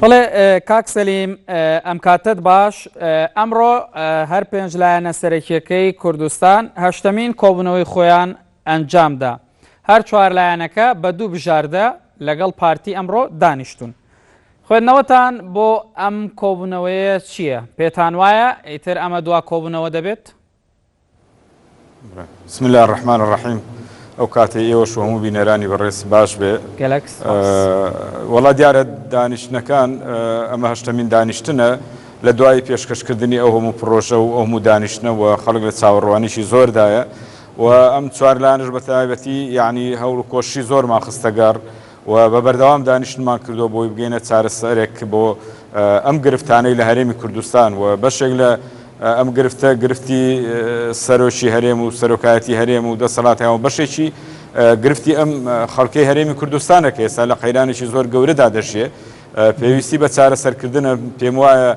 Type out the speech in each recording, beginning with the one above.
بەڵێ کاک سەلیم ئەم کاتت باش ئەمڕۆ هەر پێنج لایەنە سەرەکیەکەی کوردستان هەشتمین کۆبوونەوەی خۆیان ئەنجامدا هەر چوار لایەنەکە بە دوو بژاردە لەگەڵ پارتی ئەمڕۆ دانیشتون خوێندنەوەتان بۆ ئەم کۆبوونەوەیە چییە؟ پێتان وایە ئیتر ئەمە دوا کۆبوونەوە دەبێت؟ بسم اللە الرحمن الرحیم ئەو کاتەی ئێوەش و هەموو بینەرانی بەڕێز باش بێ وەڵا دیارە دانیشتنەکان ئەمە هەشتەمین دانیشتنە لە دوای پێشکەشکردنی ئەو هەموو پرۆژە و ئەو هەموو دانیشتنەوە خەڵک لە چاوەڕوانیشی زۆردایە و ئەم چوارلانش بە تایبەتی یعنی هەوڵ و کۆشی زۆرمان خستەگەڕ و بە بەردەوام دانیشتنمان کردووە بۆی بگەینە چارەسەرێک بۆ ئەم گرفتانەی لە هەرێمی کوردستان و بەشێک لە ئەم گرفتە گرفتی سەرۆکی هەرێم و سەرۆکایەتی هەرێم و دەسەڵاتیان و بەشێکی گرفتی ئەم خەڵکەی هەرێمی کوردستانە کە ئێستا لە قەیرانێکی زۆر گەورەدا دەژێ پێویستی بە چارەسەرکردنە پێم وایە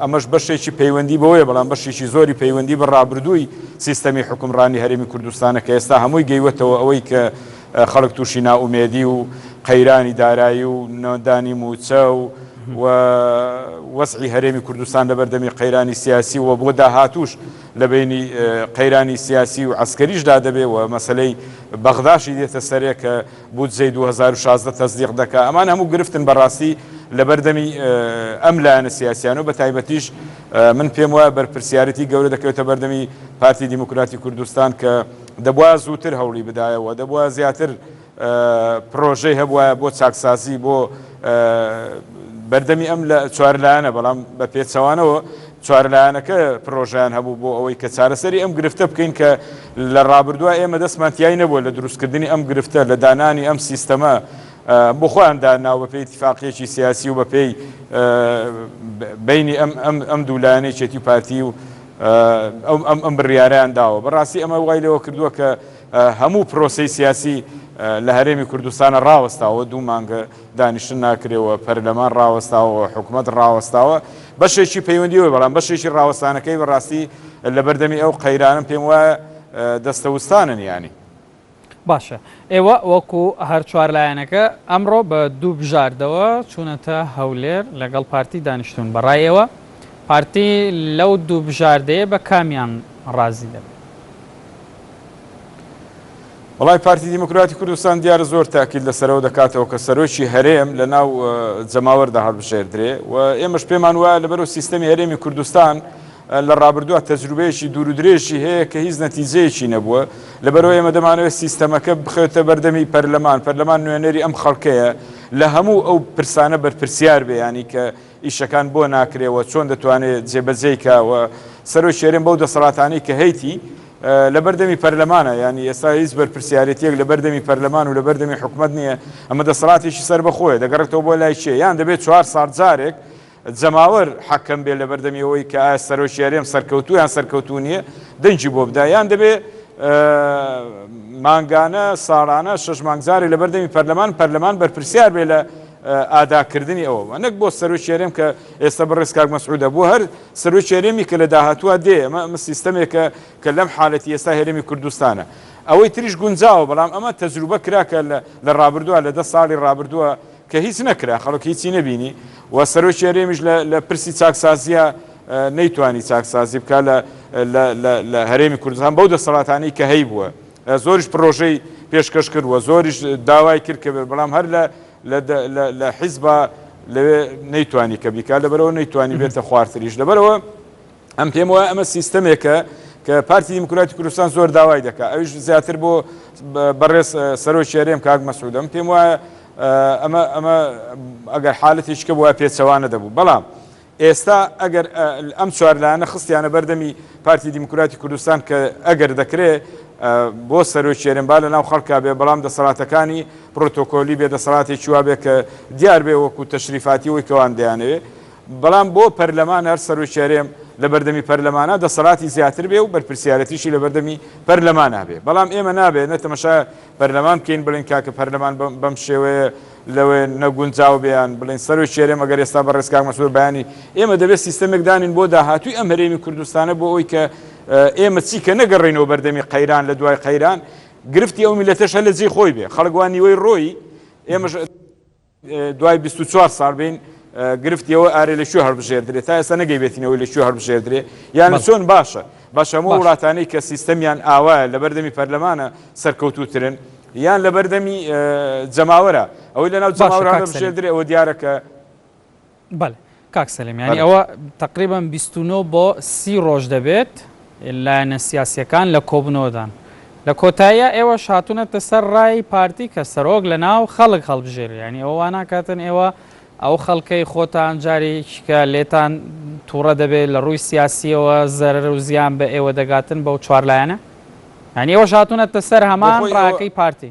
ئەمەش بەشێکی پەیوەندی بەوەیە بەڵام بەشێکی زۆری پەیوەندی بە ڕابردووی سیستەمی حکومڕانی هەرێمی کوردستانە کە ئێستا هەمووی گەیوەتەوە ئەوەی کە خەڵک تووشی نائومێدی و قەیرانی دارایی و نەدانی مووچە و و وەزعی هەرێمی کوردستان لە بەردەمی قەیرانی سیاسی و بۆ داهاتوش لە بینی قەیرانی سیاسی و عسکەریشدا دەبێ و مەسلەی بەغداشی دێتە سەرێ کە بودجەی 2016 تەزدیق دەکا ئەمان هەموو گرفتن بەڕاستی لە بەردەمی ئەم لایەنە سیاسیان و بە تایبەتیش من پێم وایە بەرپرسیارەتی گەورە دەکەوێتە بەردەمی پارتی دیموکراتی کوردستان کە دەبوایە زووتر هەوڵی بدایەوە، دەبوایە زیاتر پڕۆژەی هەبوایە بۆ چاکسازی بۆ بەردەمی ئەم لە چوارلایەنە، بەڵام بە پێچەوانەوە چوارلایەنەکە پڕۆژەیان هەبوو بۆ ئەوەی کە چارەسەری ئەم گرفتە بکەین کە لە ڕابردووە ئێمە دەستمان تیای نەبووە لە دروستکردنی ئەم گرفتە لە دانانی ئەم سیستەمە بۆ خۆیان داناوە بەپێی اتفاقیەکی سیاسی و بەپێی بینی ئەم دوولایەنەی چێتی و پارتی و ئەم ئەم بڕیارەیان داوە. بەڕاستی ئەمە وای لێوە کردووە کە هەموو پرۆسەی سیاسی لە هەرێمی کوردستانە ڕاوەستاوە، دوو مانگە دانیشتن ناکرێ و پەرلەمان ڕاوەستاوە و حکومەت ڕاوەستاوە. بەشێکی پەیوەندی بە بەڵام بەشێکی ڕاوەستانەکەی بەڕاستی لەبەردەمی ئەو قەیرانە پێم وایە دەستەوستانن یانی. باشە ئێوە وەکو هەر چوار لایەنەکە ئەمڕۆ بە دوو بژاردەوە چوونەتە هەولێر لەگەڵ پارتی دانیشتوون، بەڕای ئێوە پارتی لەو دوو بژاردەیە بە کامیان ڕازی دەبێت؟ وەڵای پارتی دیموکراتی کوردستان دیارە زۆر تاکید لەسەرەوە دەکاتەوە کە سەرۆکی هەرێم لەناو جەماوەردا هەڵبژێردرێ و ئێمەش پێمان وایە لەبەرو سیستەمی هەرێمی کوردستان لە ڕابردووە تەجروبەیەکی دوور و درێژی هەیە کە هیچ نەتیجەیەکی نەبووە، لەبەرئەوەی ئێمە دەمانەوێت سیستەمەکە بخەوێتە بەردەمی پەرلەمان، پەرلەمان نوێنەری ئەم خەڵکەیە، لە هەموو ئەو پرسانە بەرپرسیار بێ، یانی کە ئیشەکان بۆ ناکرێ و چۆن دەتوانێت جێبەجێی کا و سەرۆکی هەرێم بەو دەسەڵاتانەی کە هەیتی لەبەردەمی پەرلەمانە، یانی ئێستا هیچ بەرپرسیارێتییەک لەبەردەمی پەرلەمان و لەبەردەمی حکومەت نییە، ئەمە دەسەڵاتێکی سەربەخۆیە، دەگەڕێتەوە بۆ لای کێ؟ یان دەبێت چوار ساڵ جارێک جەماوەر حەکەم بێت لەبەردەمی ئەوەی کە ئایا سەرۆکی هەرێم سەرکەوتوو یان سەرکەوتوو نییە دەنگی بۆ بدا یان دەبێت مانگانە، ساڵانە شەش مانگ جارێ لەبەردەمی پەرلەمان پەرلەمان بەرپرسیار بێت لە ئاداکردنی ئەوە و نەک بۆ سەرۆکی هەرێم کە ئێستا بەڕێز کاک مەسعودە بۆ هەر سەرۆکی هەرێمی کە لە داهاتووە دێ ئەمە ئەمە سیستەمێکە کە لەم حالەتی ئێستا هەرێمی کوردستانە ئەوەی تریش گونجاوە بەڵام ئەمە تەجروبە کرا کە لە ڕابردووە لە دە ساڵی ڕابردووە کە هیچ نەکرا خەڵک هیچی نەبینی و سەرۆکی هەرێمیش لە پرسی چاکسازیە نەیتوانی چاکسازی بکە لە هەرێمی کوردستان بەو دەسەڵاتانی کە هەی بووە زۆریش پرۆژەی پێشکەش کرد و زۆریش داوای کرد کە بەڵام هەر لە حیزبا لەوێ نەیتوانی کە بیکات لەبەرەوە نەیتوانی بێتە خوارتریش لەبەرەوە ئەم پێم وایە ئەمە سیستەمێکە کە پارتی دیموکراتی کوردستان زۆر داوای دەکات ئەویش زیاتر بۆ بەڕێز سەرۆکی هەرێم کاک مەسعود ئەم پێم وایە ئەمە ئەمە ئەگەر حالەتی شکە بووە پێچەوانە دەبوو بەڵام ئێستا ئەگەر ئەم چوارلایەنە خستیانە بەردەمی پارتی دیموکراتی کوردستان کە ئەگەر دەکرێت بۆ سەرۆکی هەرێمبا لە ناو خەڵکا بێ بەڵام دەسەڵاتەکانی پرۆتۆکۆلی بێ دەسەڵاتێکی وابێ کە دیار بێ وەکو تەشریفاتی وەی کەوان دەیانەوێ بەڵام بۆ پەرلەمان هەر سەرۆکی هەرێم لە بەردەمی پەرلەمانە دەسەڵاتی زیاتر بێ و بەرپرسیارەتیشی لە بەردەمی پەرلەمانە بێ بەڵام ئێمە نابێ نە تەمەشا پەرلەمان بکەین بڵین کاکە پەرلەمان بەم شێوەیە لەوێ نەگونجاو بیان بڵین سەرۆکی هەرێم ئەگەر ئێستا بە ڕێزکاک مەسرور بەیانی ئێمە دەبێت سیستەمێک دانین بۆ داهاتووی ئەم هەرێمی کوردستانە بۆ ئەوی کە ئێمە چی کە نەگەڕینەوە بەردەمی قەیران لە دوای قەیران گرفتی ئەو میلەتەش هە لە جێ خۆی بێ خەڵگوان نیوەی ڕۆی ئێمەش دوای بیست و چوار ساڵ بین گرفتی ئەوە ئارێ لە کوێ هەڵبژێردرێت تا ئێستا نەگەیبێتینەوەی لە کوێ هەڵبژێردرێ یان چۆن باشە بەش هەموو وڵاتانەی کە سیستەمیان ئاوا لە بەردەمی پەرلەمانە سەرکەوتوترن یان لە بەردەمی جەماوەرە ئەوەی لە ناو جەماوەرانە بژێردرێ ئەوە دیارە کە بەلێ کاک سەلیم یانی ئەوە تەقریبەن بیست و نۆ بۆ سی ڕۆژ دەبێت لایەنە سیاسیەکان لە کۆبنەوەدان لە کۆتاییا ئێوەش هاتونەتە سەر ڕای پارتی کە سەرۆک لە ناو خەڵک هەڵبژێرێ یانی ئەوە واناکاتن ئێوە ئەو خەڵکەی خۆتان جاریکە لێتان توڕە دەبێت لە ڕووی سیاسیەوە زەرەر و زیان بە ئێوە دەگاتن بەو چوار لایەنە یانی ئێوەش هاتونەتە سەر هەمان ڕاکەی پارتی.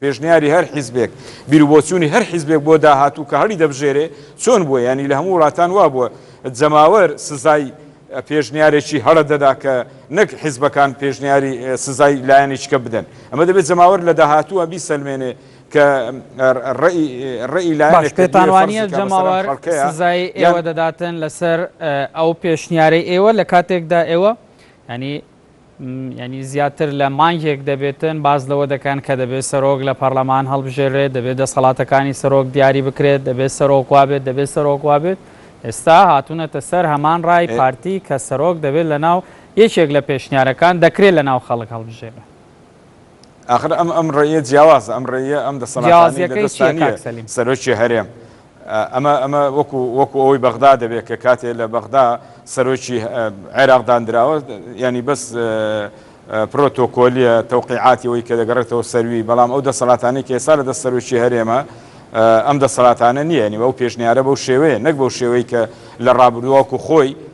پێشنیاری هەر حیزبێک، بیروبۆچوونی هەر حیزبێک بۆ داهاتوو کە هەڵی دەبژێرێ چۆن بووە، یانی لە هەموو وڵاتان وا بووە جەماوەر سزای پێشنیارێکی هەڵە دەدا کە نەک حیزبەکان پێشنیاری سزای لایەنێکیکە بدەن. ئەمە دەبێ جەماوەر لە داهاتووە بیسەلمێنێ کە ڕێی ڕێی لایەنێک کە دەیەوێ فەرزی کە مەسەلەن خەڵکەیە. باش، پێتان وانییە جەماوەر سزای ئێوە دەداتن لەسەر ئەو پێشنیارەی ئێوە لە کاتێکدا ئێوە یانی یانی زیاتر لە مانگێک دەبێتن باس لەوە دەکەن کە دەبێت سەرۆک لە پەرلەمان هەڵبژێرێت، دەبێت دەسەڵاتەکانی سەرۆک دیاری بکرێت، دەبێت سەرۆک وا بێت، دەبێت سەرۆک وا بێت، ئێستا هاتوونەتە سەر هەمان ڕای پارتی کە سەرۆک دەبێت لەناو یەکێک لە پێشنیارەکان دەکرێت لەناو خەڵک هەڵبژێرێت. ئاخر ئەم ئەم ڕێیە جیاوازە ئەم ڕێیە ئەم دەسەڵاتانەی لە دەستانی سەرۆکی هەرێم ئەمە ئەمە وەکو وەکو ئەوەی بەغدا دەبێت کە کاتێ لە بەغدا سەرۆکی عێراق دانراوە ینی بەس پرۆتۆکۆلیە تەوقیعاتیەوەی کە دەگەڕێتەوە سەروی بەڵام ئەو دەسەڵاتانی کە ئێستا لە دەست سەرۆکی هەرێمە ئەم دەسەڵاتانە نییە نیوە ئەو پێشنیارە بەو شێوەیە نەک بەو شێوەی کە لە ڕابروواکو خۆی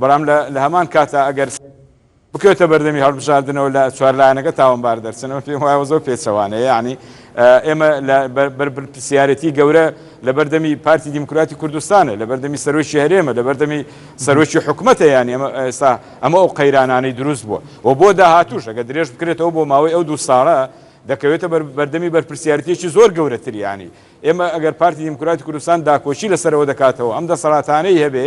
بەڵام لە هەمان کاتدا ئەگەر بکەوێتە بەردەمی هەڵبژاردنەوە لە چوار لایەنەکە تاوانبار دەرچن، ئەمە پێم وایە زۆر پێچەوانەیە، یانی ئێمە لە بەرپرسیارەتی گەورە لە بەردەمی پارتی دیموکراتی کوردستانە، لە بەردەمی سەرۆکی هەرێمە، لە بەردەمی سەرۆکی حکوومەتە، یانی ئەمە ئێستا ئەمە ئەو قەیرانانەی دروست بووە و بۆ داهاتووش ئەگەر درێژ بکرێتەوە بۆ ماوەی ئەو دوو ساڵە دەکەوێتە بەردەمی بەرپرسیارەتێکی زۆر گەورەتری، یانی ئێمە ئەگەر پارتی دیموکراتی کوردستان داکۆکی لەسەرەوە دەکاتەوە ئەم دەسەڵاتانەی هەبێ،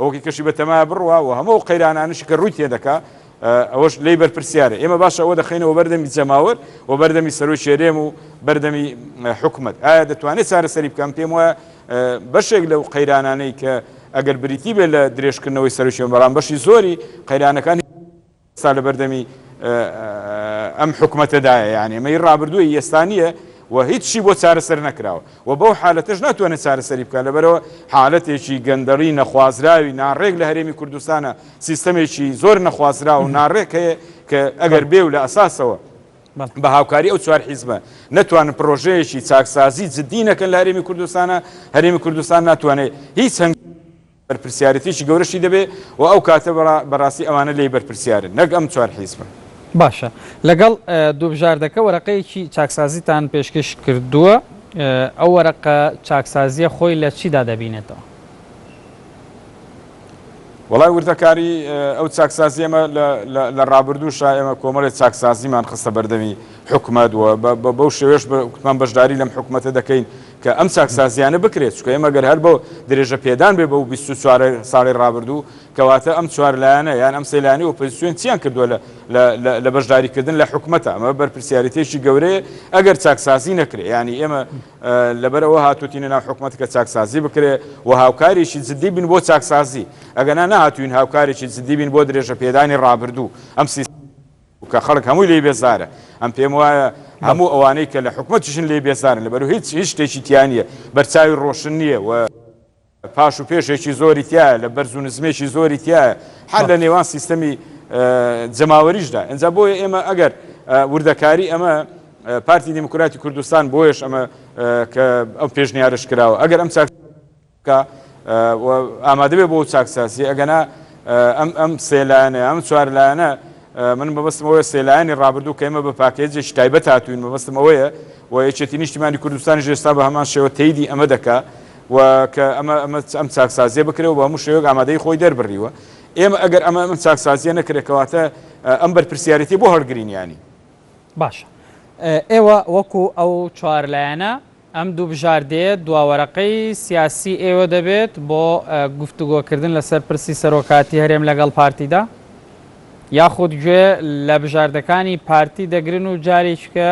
ئەوکەی کەشی بەتەمایە بڕوا و هەموو ئەو قەیرانانەشی کە ڕووی تێدەکا ئەوەش لێی بەرپرسیارە، ئێمە باشە ئەوە دەخەینەوە بەردەمی جەماوەر و بەردەمی سەرۆکی هەرێم و بەردەمی حکومەت ئایا دەتوانێت چارەسەری بکەن، پێم وایە بەشێک لەو قەیرانانەی کە ئەگەر بریتی بێت لە درێژکردنەوەی سەرۆکی بەڵام بەشی زۆری قەیرانەکان ئێستا لەبەردەمی ئەم حکومەتەدایە یانێ مەی ڕابردووی ئێستا نییە و هیچ شی بۆ چارەسەر نەکراوە و بەو حالەتەش ناتوانێت چارەسەری بکە لەبەرەوە حالەتێکی گەندەڵی نەخوازراوی ناڕێک لە هەرێمی کوردستانە سیستەمێکی زۆر نەخوازرا و ناڕێک هەیە کە ئەگەر بێ و لە ئەساسەوە بە هاوکاری ئەو چوار حیزبە نەتوانن پرۆژەیەکی چاکسازی جددی نەکەن لە هەرێمی کوردستانە هەرێمی کوردستان ناتوانێت هیچ هەنگ بەرپرسیارێتیەکی گەورەشی دەبێ و ئەو کاتە بەڕاستی ئەوانە لێی بەرپرسیارن نەک ئەم چوار حیزبە. باشە لەگەڵ دوو بژاردەکە وەرەقەیەکی چاکسازیتان پێشکەش کردووە ئەو وەرەقە چاکسازیە خۆی لە چیدا دەبینێتەوە؟ وەڵای وردەکاری ئەو چاکسازی ئێمە لە ڕابردووشا ئێمە کۆمەڵی چاکسازیمان خستە بەردەمی حکومەت و بەو شێوێش کوتمان بەشداری لەم حکومەتە دەکەین کە ئەم چاکسازییانە بکرێت، چونکە ئێمە گەر هەر بۆ درێژە پێدان بێت بەو بیست و چوار ساڵی ڕابردوو، کەواتە ئەم چوار لایەنە یان ئەم سێ لایەنەی ئۆپۆزیسیۆن چیان کردووە لە بەشداریکردن لە حکومەتا؟ ئەمە بەرپرسیاریتێکی گەورەیە ئەگەر چاکسازی نەکرێت، یانی ئێمە لەبەر ئەوە هاتووتینە ناو حکومەت کە چاکسازی بکرێت و هاوکارێکی جددی بین بۆ چاکسازی، ئەگەنا نەهاتووین هاوکارێکی جددی بین بۆ درێژە پێدانی ڕابردوو. کە خەڵک هەمووی لێی بێزارە، ئەم پێم وایە هەموو ئەوانەی کە لە حکومەتیشن لێی بێزارن، لەبەرو هیچ هیچ شتێکی تیا نییە، بەرچاوی ڕۆشن نییە و پاش و پێشێکی زۆری تیایە، لە بەرز و نزمێکی زۆری تیایە، حەر لە نێوان سیستەمی جەماوەریشدا، ئینجا بۆیە ئێمە ئەگەر وردەکاری ئەمە پارتی دیموکراتی کوردستان بۆیەش ئەمە کە ئەو پێشنیارەش کراوە، ئەگەر ئەم چاک. بکا و ئامادە بێ بۆ ئەو چاکسازیە ئەگەنا ئەم ئەم سێ لایەنە ئەم چوار لایەنە من بەبستم ئەوەیە سێ لایەنی ڕابردوو کە ئێمە بە پاکێجێکی تایبەت هاتوین بەبستم ئەوەیە و یەکێتی نیشتیمانی کوردستانی ژێستا بە هەمان شێوە تەیدی ئەمە دەکا و کە ئەمە ئەمە ئەم چاکسازیە بکرێەوە بە هەموو شێوەک ئامادەی خۆی دەربڕیوە ئێمە ئەگەر ئەمە ئەم چاکسازیە نەکرێکەواتە ئەم بەرپرسیارەتی بۆ هەڵگرینیانی باشە ئێوە وەکو ئەو چوار لایەنە ئەم دوو بژاردەیە دواوەرەقەی سیاسی ئێوە دەبێت بۆ گفتوگۆکردن لەسەر پرسی سەرۆکاتی هەرێم لەگەڵ پارتیدا؟ یاخود گوێ لە بژاردەکانی پارتی دەگرن و جاریچکە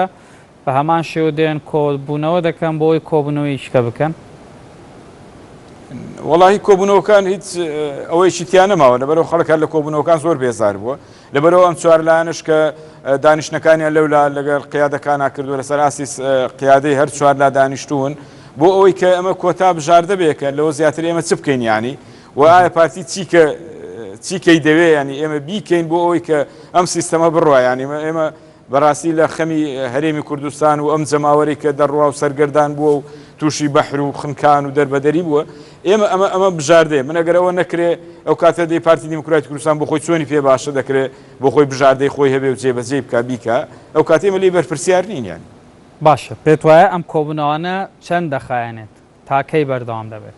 بە هەمان شێوە دێن کۆبوونەوە دەکەن بۆ ئەوەی کۆبوونەوەیچکە بکەن؟ وەڵاهی کۆبوونەوەکان هیچ ئەوەیەکی تیا نەماوە لەبەرئەوە خەڵک هەر لە کۆبوونەوەکان زۆر بێزار بووە، لەبەرئەوە ئەم چوار لایەنەش کە دانیشتنەکانیان لەولا لەگەڵ قیادەکانا کردووە لەسەر ئاستی قیادەی هەر چوار لا دانیشتوون بۆ ئەوەی کە ئەمە کۆتا بژاردە بێ کە لەوە زیاتر ئێمە چ بکەین یانی و ئایا پارتی چی کە چیکەی دەوێ ینی ئێمە بیکەین بۆ ئەوەی کە ئەم سیستەمە بڕایانی ئێمە بەراستی لە خەمی هەرێمی کوردستان و ئەم جەماوەرەی کە دەڕواو سەرگەردان بووە و تووشی بەحر و خنکان و دەربەدەری بووە ئێمە ئەمە ئەمە بژاردەیە من ئەگەر ئەوە نەکرێ ئەو کاتە دەی پارتی دیموکراتی کوردستان بۆ خۆی چۆنی پێ باشە دەکرێ بۆ خۆی بژاردەی خۆی هەبێ و جێبەجێی بکا بیکا ئەو کاتێمە لی بەرپرسیار نین یانی. باشە پێت وایە ئەم کۆبوونەوانە چەند دەخایەنێت؟ تا کەی بەردەوام دەبێت؟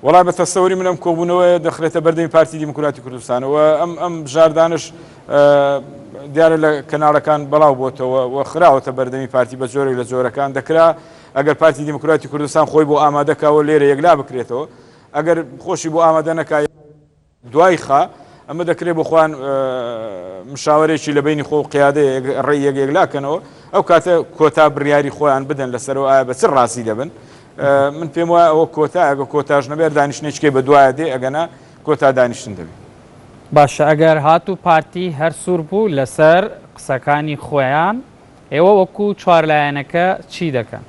وەڵا بە تەسەوری من ئەم کۆبوونەوەیە دەخرێتە بەردەمی پارتی دیموکراتی کوردستان و ئەم ئەم بژاردانش دیارە لە کەناڵەکان بەڵاو بۆتەوە و خراوەتە بەردەمی پارتی بە جۆرێک لە جۆرەکان دەکرا ئەگەر پارتی دیموکراتی کوردستان خۆی بۆ ئامادەکەەوە لێرە یەکلا بکرێتەوە ئەگەر خۆشی بۆ ئامادە نەکای دوای خا، ئەمە دەکرێت بۆ خۆیان مشاوەرێکی لە بەینی خۆ و قیادەی ڕێی یەک یەکلا کەنەوە، ئەو کاتە کۆتا بڕیاری خۆیان بدەن لەسەرەوە ئایا بە چ ڕازی دەبن. من پێم وایە ئەوە کۆتا، ئەگە کۆتاش نەبێت دانیشتنێکێ بە دوایە دێ، ئەگەنا کۆتا دانیشتن دەبێت. باشە ئەگەر هاتوو پارتی هەر سوور بوو لەسەر قسەکانی خۆیان، ئێوە وەکوو چوار لایەنەکە چی دەکەن؟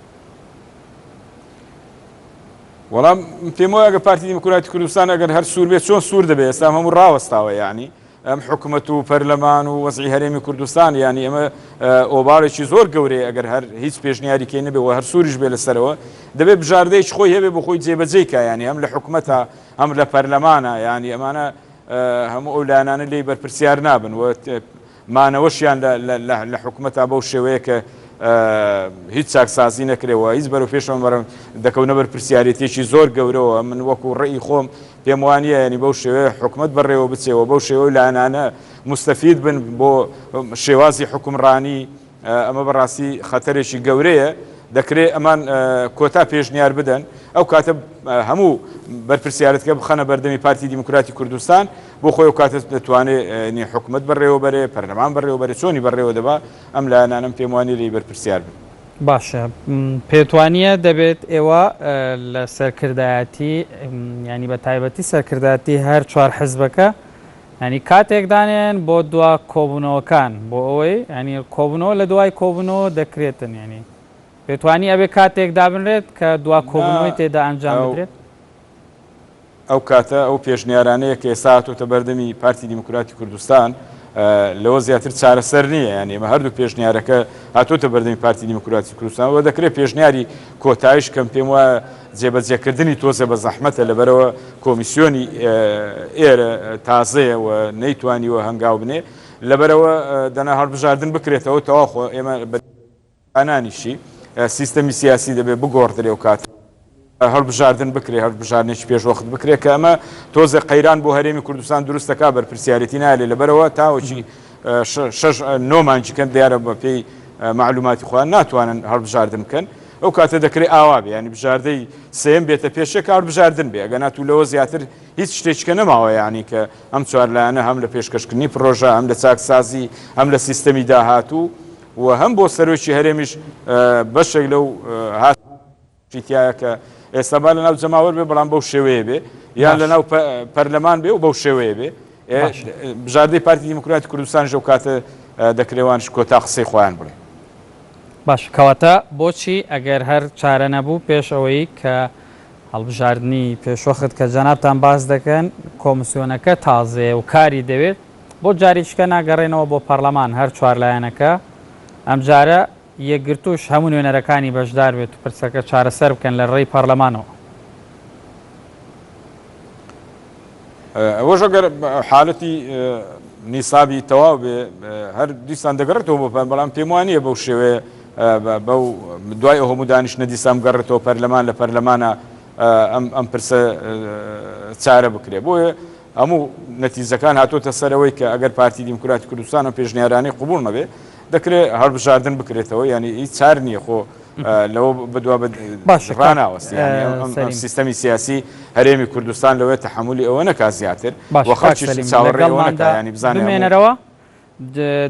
وەڵام پێم وایە گە پارتی دیموکراتی کوردستان ئەگەر هەر سوور بێت چۆن سوور دەبێت ئێستا هەموو ڕاوەستاوە یعنی ئەم حکومەت و پەرلەمان و وەزی هەرێمی کوردستان یعنی ئەمە ئۆبارێکی زۆر گەورەیە ئەگەر هەر هیچ پێشنیاریکەی نەبێ و هەر سووریش بێ لەسەرەوە دەبێت بژاردەیەکی خۆی هەبێ بۆ خۆی جێبەجێ کایانی ئەم لە حکومەتە ئەم لە پەرلەمانە یعنی ئەمانە هەموو ئەو لایەنانە لێی بەرپرسیار نابن و مانەوەشیان لە حکومەتا بەو شێوەیە کە هیچ چاکسازی نەکرێەوە هیچ بەرەو پێشەوە بەرەم دەکەونە بەر پرسیارەتێکی زۆر گەورەوە من وەکو ڕێی خۆم پێم وانە ینی بەو شێوێ حکومت بەڕێوە بچێەوە بەو شێوە لایەنانە مستەفید بن بۆ شێوازی حکومڕانی ئەمە بەڕاستی خەتەرێکی گەورەیە، دەکرێت ئەمان کۆتا پێشنیار بدەن، ئەو کاتە هەموو بەرپرسیارەتەکە بخەنە بەردەمی پارتی دیموکراتی کوردستان، بۆ خۆی ئەو کاتە دەتوانێت حکومەت بەڕێوەبەرێ، پەرلەمان بەڕێوەبەرێ، چۆنی بەڕێوە دەبا، ئەم لایەنانەم پێم وانییە لێی بەرپرسیار بن. باشە پێت وانییە دەبێت ئێوە لە سەرکردایەتی، یانی بەتایبەتی سەرکردایەتی هەر چوار حزبەکە یانی کاتێک دانێن بۆ دوا کۆبونەوەکان بۆ ئەوەی یانی کۆبونەوە لە دوای کۆبونەوە دەکرێتن یانی پێتوانی ئەبێ کاتێک دابنرێت کە دوا نا کۆبونەوەی تێدا ئەنجام ئەو بدرێت؟ ئەو کاتە ئەو پێشنیارانەیە کە ئێستا هاتۆتە بەردەمی پارتی دیموکراتی کوردستان لەوە زیاتر چارەسەر نییە یانی ئێمە هەردوو پێشنیارەکە هاتۆتە بەردەمی پارتی دیموکراتی کوردستان وە دەکرێت پێشنیاری کۆتایش کەم پێم وایە جێبەجێکردنی تۆزێ بە زەحمەتە لەبەرئەوە کۆمیسیۆنی ئێرە تازەیە و نەیتوانیوە هەنگاو بنێ لەبەرئەوە دەنا هەڵبژاردن بکرێتەوە تەواو خۆ ئێمە بە ئەنانیشی سیستەمی سیاسی دەبێ بگۆڕدرێ و کات هەڵبژاردن بکرێ هەڵبژاردنێکی پێشوەخت بکرێ کە ئەمە تۆزێ قەیران بۆ هەرێمی کوردستان دروست دەکا بەرپرسیارێتی نایەلێ لەبەرئەوە تاوەکی شەش نۆ مانگی کەن دیارە بەپێی مەعلوماتی خۆیان ناتوانن هەڵبژاردن بکەن ئەو کاتە دەکرێت ئاوا بێ ینی بژاردەی سێم بێتە پێشێ کار بژاردن بێ ئەگە ناتوو لەوە زیاتر هیچ شتێککە نەماوە ینی کە ئەم چوارلایەنە هەم لە پێشکەشکردنی پرۆژە ئەم لە چاکسازی ئەم لە سیستەمی داهاتوو و هەم بۆ سەرۆکی هەرێمیش بەشێک لەو هاات چی تیایە کە ئێستا با لەناو جەماوەر بێ بەڵام بەو شێوەیە بێ یان لەناو پەرلەمان بێ و بەو شێوەیە بێ بژاردەی پارتی دیموکراتی کوردستان ژەو کاتە دەکرێوانش کۆتا قسەی خۆیان بڵێ باش کەواتە بۆچی ئەگەر هەر چارە نەبوو پێش ئەوەی کە هەڵبژاردننی پێشوەخت کە جەنابان باز دەکەن کۆمسیۆنەکە تازەیە و کاری دەوێت بۆ جاریشکە ناگەڕێنەوە بۆ پەرلەمان هەر چوار لایەنەکە ئەم جارە یەکگرتووش هەموو نوێنەرەکانی بەشدار بێت و پرسەکە چارەسەر بکەن لە رێی پارلەمانەوە. ئەوەش ئەگەر حالەتی نیسابی تەواو بێ هەر دیسان دەگەڕێتەوە بۆ پەر بەڵام پێم وانە بەو شێوەیە بەو دوای ئەوهموو دانیشتە دیسان گەڕێتەوە پەرلەمان لە پەرلەمانە ئەم پرسە چارە بکرێ بۆیە هەموو نەتیزەکان هاتۆتە سەرەوەی کە ئەگەر پارتی دیموکراتی کوردستانە پێشنیارانەی قوبول نەبێ دەکرێ هەڵبژاردن بکرێتەوە یانی هیچ چار نییە خۆ لەوە بەدوا باشڕاناوەستی سیستەمی سیاسی هەرێمی کوردستان لەوەی تحملی ئەوە نەکا زیاتر چاوەڕێڵمانەکانی بزانێنەرەوە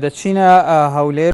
دەچینە هەولێر